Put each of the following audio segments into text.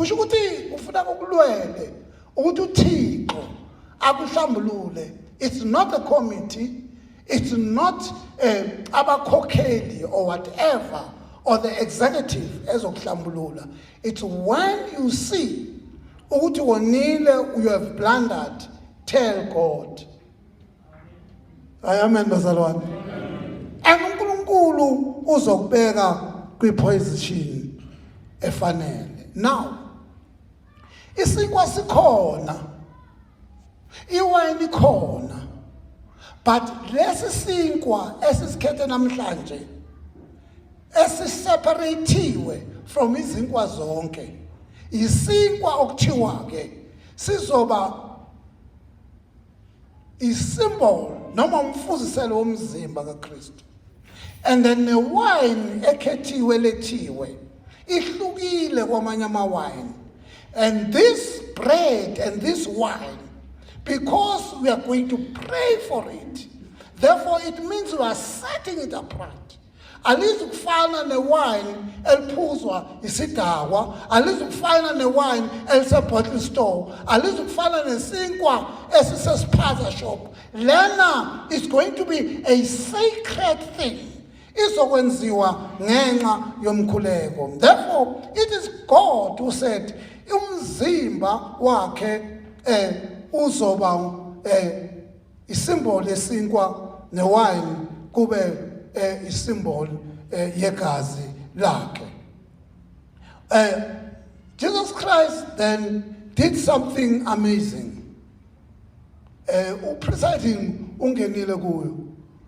kusho ukuthi ufuna ukulwele ukuthi uthixo akuhlambulule it's not a committee it's not eh, abakhokheli or whatever or the executive ezokuhlambulula it's when you see ukuthi wonile you have blundered tell god hayi amen bazalwane and unkulunkulu uzokubeka kwiposition efanele now isinkwa sikhona iwayini khona but lesi sinkwa esisikhethe namhlanje esiseparathiwe from izinkwa zonke isinkwa okuthiwa ke sizoba isimbolo noma umfuziselo womzimba kaKristu and then newine ekhethiwe lethiwe ihlukile kwamanye amawine and this bread and this wine because we are going to pray for it therefore it means we are setting it apart alizukufana newayini eliphuzwa isidakwa alizukufana newayini elisebottle store alizukufana nesinkwa esisesiphaza shop lena is going to be a sacred thing izokwenziwa ngenxa yomkhuleko therefore it is god who said umzimba wakhe eh uzoba eh isimboli esinkwa newayini kube eh, isimboli eh, yegazi lakhe eh, Jesus Christ then did something amazing eh, upresiding ungenile kuyo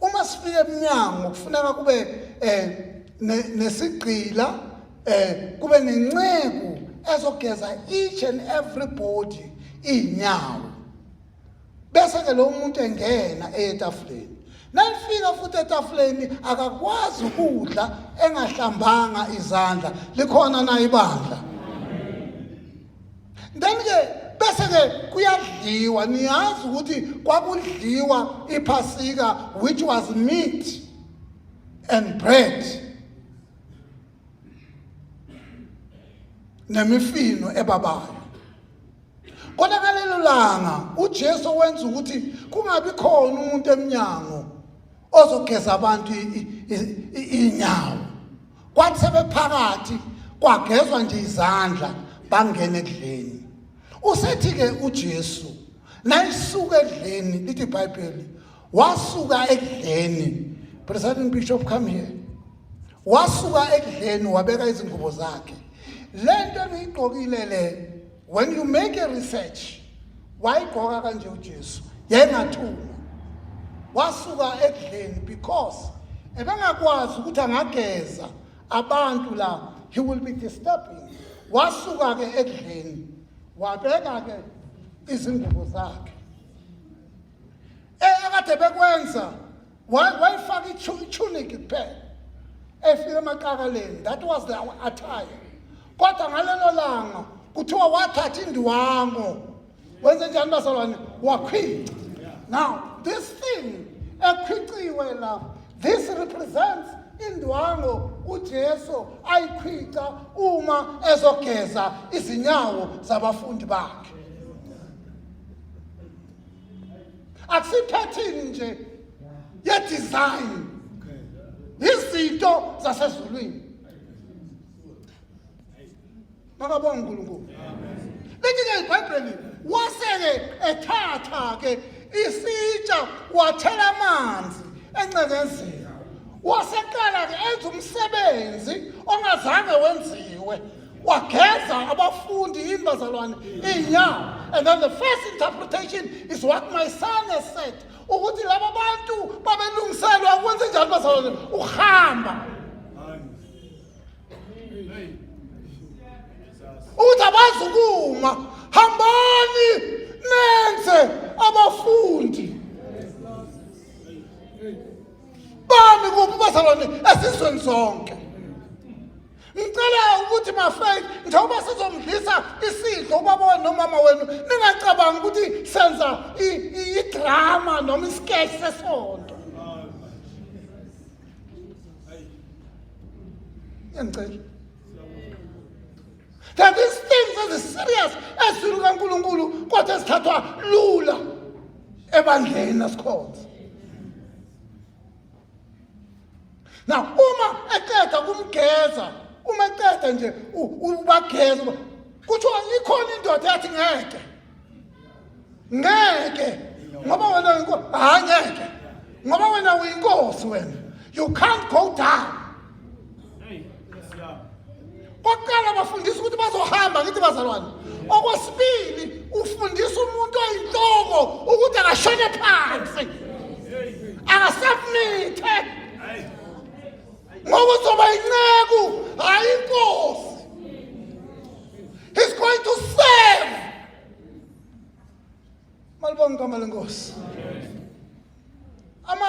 Uma sifika emnyango kufuneka kube eh nesigqila eh kube nenceku ezogeza each and everybody inyawo. Bese ke lo muntu engena etafuleni. Nalifika futhi etafuleni akakwazi ukudla engahlambanga izandla. Likhona na ibandla? then ke bese ke kuyadliwa niyazi ukuthi kwakudliwa iphasika which was meat and bread nemifino ebabayo kodwa ngalelo langa uJesu wenza ukuthi kungabi khona umuntu eminyango ozogeza abantu inyawo kwathi sebephakathi kwagezwa nje izandla bangene ekudleni usethi ke uJesu nayisuka ekudleni lithi iBhayibheli wasuka ekudleni presiding bishop come here wasuka ekudleni wabeka izingubo zakhe lento engiyigqokile le when you make a research wayigqoka kanje uJesu yayingathuma wasuka ekudleni because ebengakwazi ukuthi angageza abantu la he will be disturbing wasuka ke ekudleni wabeka ke izingubo zakhe ekade bekwenza wayifaka itunic kuphela efika emaqakaleni that was the attire kodwa ngalelo langa kuthiwa wathatha indiwango wenze njani bazalwane wakhwica now this thing ekhwiciwe la this represents indwango uJesu ayikhwica uma ezogeza izinyawo zabafundi bakhe akusiphathini nje ye design izinto zasezulwini makabonga uNkulunkulu lithi ke iBhayibheli waseke ethatha ke isitsha wathela amanzi encengezini waseqala ke enza umsebenzi ongazange wenziwe wageza abafundi imbazalwane iy'nyawo and then the first interpretation is what my son has said ukuthi laba bantu babelungiselwa ukwenze njani bazalwane ukuhamba ukuthi abazukuma hambani nenze abafundi bami kuphi bazalwane esizweni sonke Ngicela ukuthi mafake njengoba sizomdlisa isidlo ubaba wenu nomama wenu ningacabangi ukuthi senza idrama noma isketch sesonto. Ngicela. That is things that is serious ezwini kaNkuluNkulu kodwa ezithathwa lula ebandleni nasikhonza. na uma eqeda kumgeza uma eqeda nje ubageza kuthiwa ikhona indoda yathi ngeke ngeke ngoba wena uyinkosi hayi ngeke ngoba wena uyinkosi wena you can't go down Kokuqala bafundisa ukuthi bazohamba ngithi bazalwane. Okwesibili ufundisa umuntu oyinhloko ukuthi akashone phansi. Akasubmithe. Ngoba uzoba inceku hayi inkosi. He's going to serve. Malibonga igama lenkosi. Ama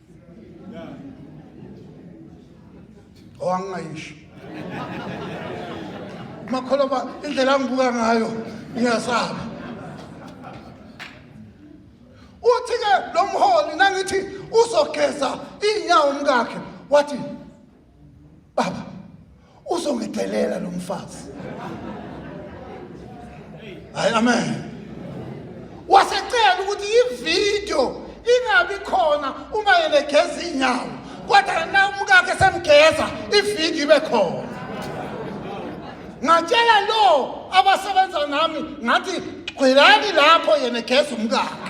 owangingayishi makholwa indlela angibuka ngayo ngiyasaba uthi-ke lo mholi nangithi uzogeza iy'nyawo umkakhe wathi baba uzongidelela lo mfazi hayi amen wasecela ukuthi ividiyo ingabi khona uma yena egeza iy'nyawo kodwa na umkakhe semgeza ividiyo ibe khona ngatshela lo abasebenza nami ngathi gqwelani lapho yena egeza umkakhe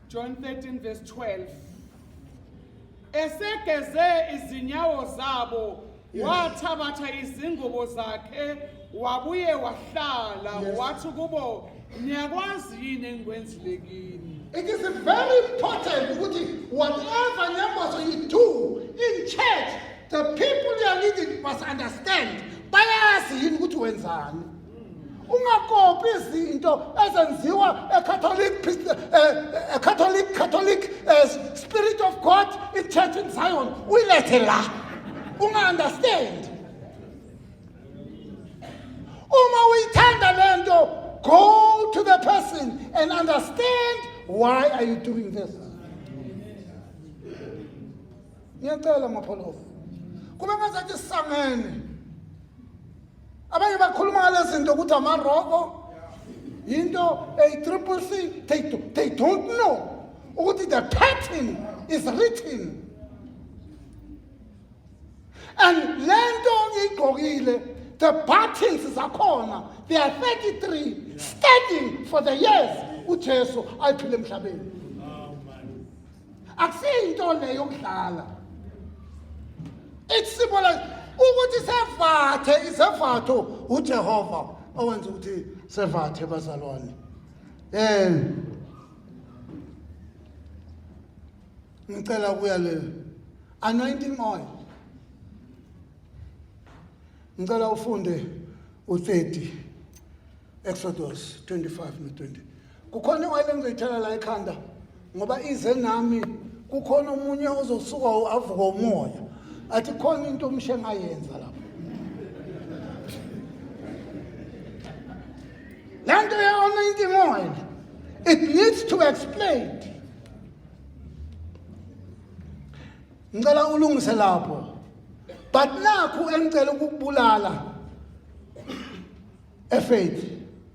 John 13 verse 12 esegeze izinyawo zabo wathabatha izingubo zakhe wabuye wahlala Yes. wathi kubo niyakwazi yini engikwenzile kini It is very important ukuthi whatever nyambazo you do in church, the people you are leading must understand. Bayazi yini ukuthi wenzani. ungakopi izinto ezenziwa ecatholic ecatholic catholic eh, spirit of god ichurch in zion uyilethe la unga-understand uma uyithanda le nto go to the person and understand why are you doing this ngiyacela mapholofa kube ngazathi sisangene abanye bakhuluma ngalezi zinto ukuthi amaroko yinto eyi-triple c they, they don't know ukuthi the pattern is written and le nto ngiyigqokile the buttons zakhona they are 33 standing for the years ujesu ayiphile emhlabeni akusiyinto le yokudlala it's simple as ukuthi sevathe isevatho uJehova owenza ukuthi sevathe bazalwane eh ngicela kuya le anointing oil ngicela ufunde u30 Exodus 25 no 20 kukhona iwayini engizoyithela la ekhanda ngoba ize nami kukhona omunye ozosuka avuka umoya athi khona into omshe ngayenza lapho le nto ye-anointing oil it needs to explain ngicela ulungise lapho but nakhu engicela ukukubulala efaith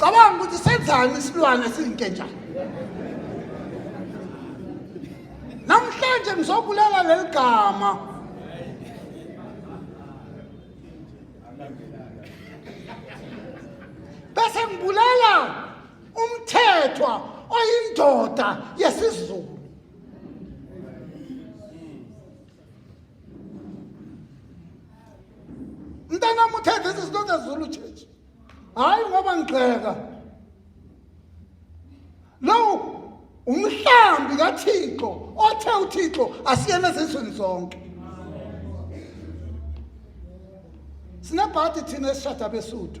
cabanga ukuthi senzani isilwane siyinkentshana namhlanje ngizobulala leli gama bese ngibulala umthethwa oyindoda yesizulu mntanam uthe this is not a zulu church hayi ngoba ngigxeka lowo umhlambi kathixo othe uthixo asiyena ezizweni zonke sinebhadi thina esishada besuthu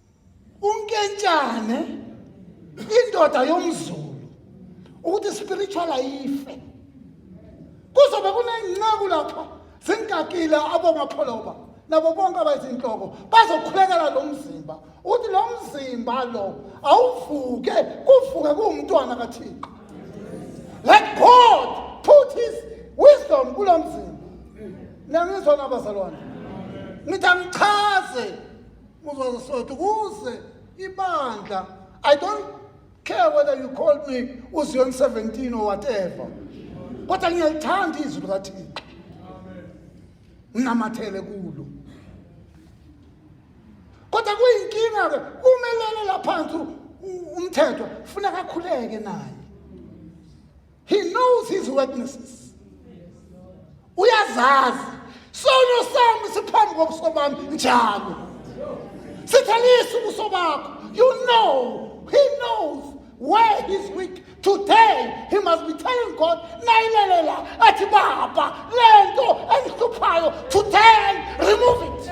unkentshane indoda yomzulu ukuthi spiritual ayife kuzobe kunenceku lapha zinkakile abomapholoba nabo bonke abayizinhloko bazokhulekela lo mzimba uthi lo mzimba lo awuvuke kuvuke kuwumntwana kathixo let god put his wisdom kulo mzimba nangizona abazalwane ngithi angichaze Muzwaza Soweto ukuze ibandla I don't care whether you call me uZion 17 or whatever kodwa ngiyalithanda izwi likaThixo nginamathele kulo kodwa kuyinkinga ke umelele laphansi umthetho funeka akhuleke naye he knows his weaknesses uyazazi sono sami siphambi kobuso bami njalo sithalisa ubuso bakho you know he knows where he's weak today he must be telling god nayilelela athi baba le nto engihluphayo today remove it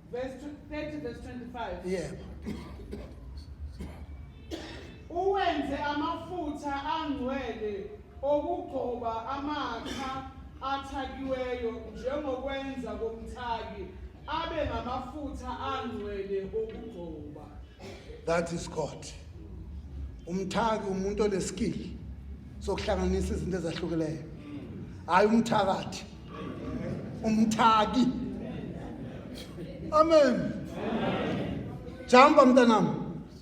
Verse 30 verse 25. Yebo. Uwenze amafutha angcwele okugcoba amakha athakiweyo njengokwenza komthaki abe ngamafutha angcwele okugcoba. That is God. Umthaki umuntu oneskill sokuhlanganisa izinto ezahlukileyo. Hayi umthakathi. umthaki amen jamba mntanam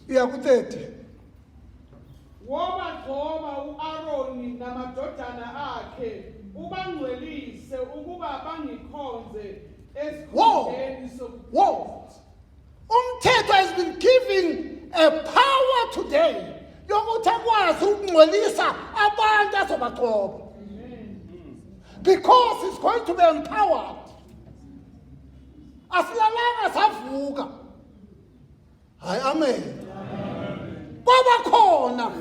uya ku-30 wobagcoba u-aroni namadodana akhe ubangcwelise ukuba bangikhonze esikhundleni sokukhonza Umthetho has been giving a power today yokuthi akwazi ukungcolisa abantu azobagcoba because he's going to be empowered asilalanga savuka hayi amen kwaba khona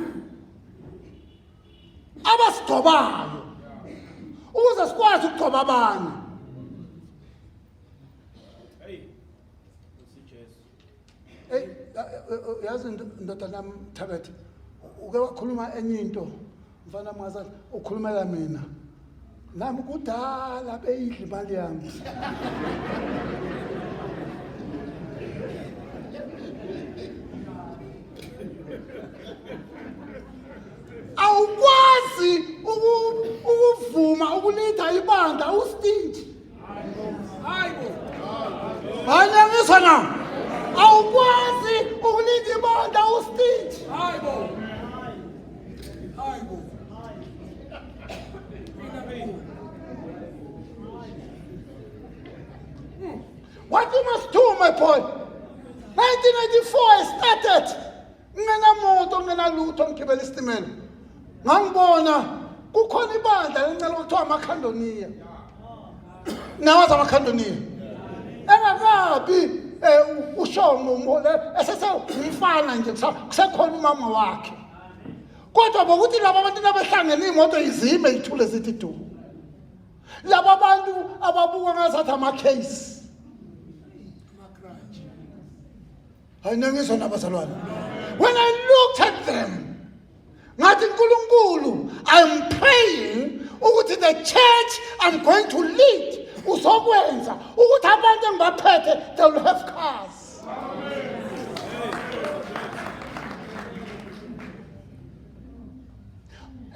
abasigcobayo ukuze sikwazi ukugcoba abanye usijesu eyi yazi ndodana yam thabethe uke wakhuluma enye into mfana mngazana ukhulumela mina nami kudala beyidla imali yami awukwazi uku- ukuvuma ukulitha ibandla ustinji Hayibo. na. Awukwazi ukulinda ibonda ustage. Hayibo. Hayibo. What you must do, my boy? 1994 I started. ngingenamoto ngingenalutho ngigibela isitimela ngangibona kukhona ibandla lencela kuthiwa amakhandoniya nawazi amakhandoniya engakabi um ushongo umhole esesewumfana nje kusekhona umama wakhe kodwa bokuthi laba abantu nabehlangene iy'moto izime ithule zithi du laba bantu ababuka ngazathi ama-case hayi nangizwa nabazalwane when i looked at them ngathi nkulunkulu i'm praying ukuthi the church i'm going to lead uzokwenza ukuthi abantu engibaphethe they will have cars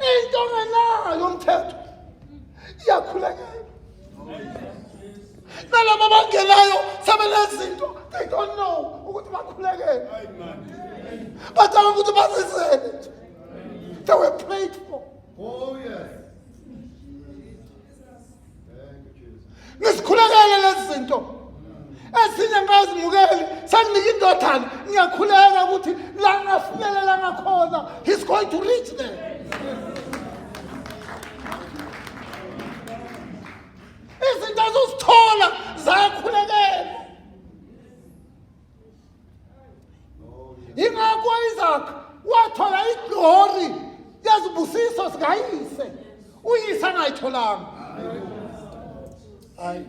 into ongenayo umthetho iyakhulekela nalaba abangenayo sebenezinto they don't know ukuthi bakhulekele bacanga ukuthi bazizele nje they were prayed for oh yes nisikhulekele lezi zinto ezinye ngazimukeli senginika indodana ngiyakhuleka ukuthi la ngafinyelela ngakhona he's going to reach there izinto azozithola zayakhulekela ingakho isaac wathola iglori yezibusiso zikayise uyise angayitholanga hayi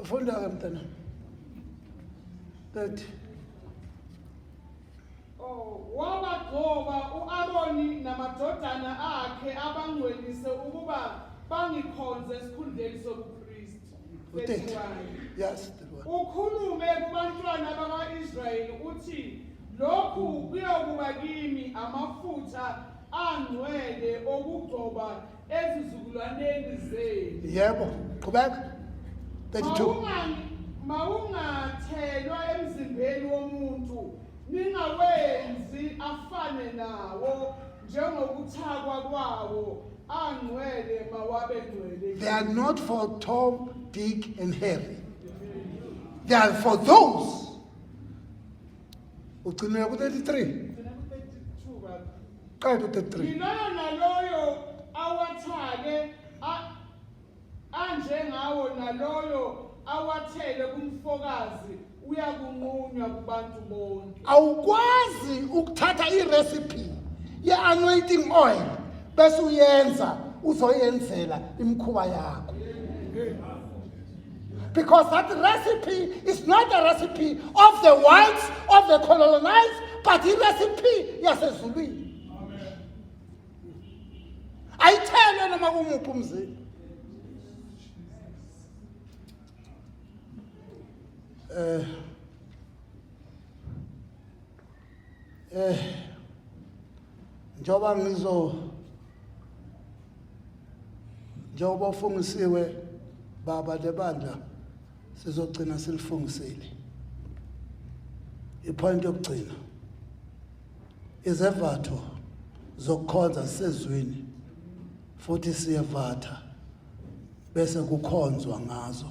funda-ke mntanami 30 Wabagcoba u-Aroni namadodana akhe abangcwelise ukuba bangikhonze esikhundleni sobupristi. Verse Uthixo. 1. Yes. ukhulume kubantwana bakwa-israyeli uthi lokhu kuyokuba kimi amafutha angcwele okugcoba ezizukulwaneni zenu yebo qhubeka 32 mawungathelwa emzimbeni womuntu ningawenzi afane nawo njengokuthakwa kwawo angcwele mawabe ngcwele they are not for tom dick and harry they are for those ugcinela ku-33 qeda u-33 yiloyo naloyo awathake a- anjengawo naloyo awathele kumfokazi uyakunqunywa kubantu bonke awukwazi ukuthatha irecipe ye-anointing oil bese uyenza uzoyenzela imikhuba yakho Because that recipe is not a recipe of the whites, of the colonized, but the recipe yasezulwini. Ayithelwe noma kumuphi umzimba. Eh uh, Eh njoba ngizo njengoba ufungisiwe baba lebandla sizogcina silifungisile ipoint yokugcina izevatho zokukhonza sezwini futhi siyevatha bese kukhonzwa ngazo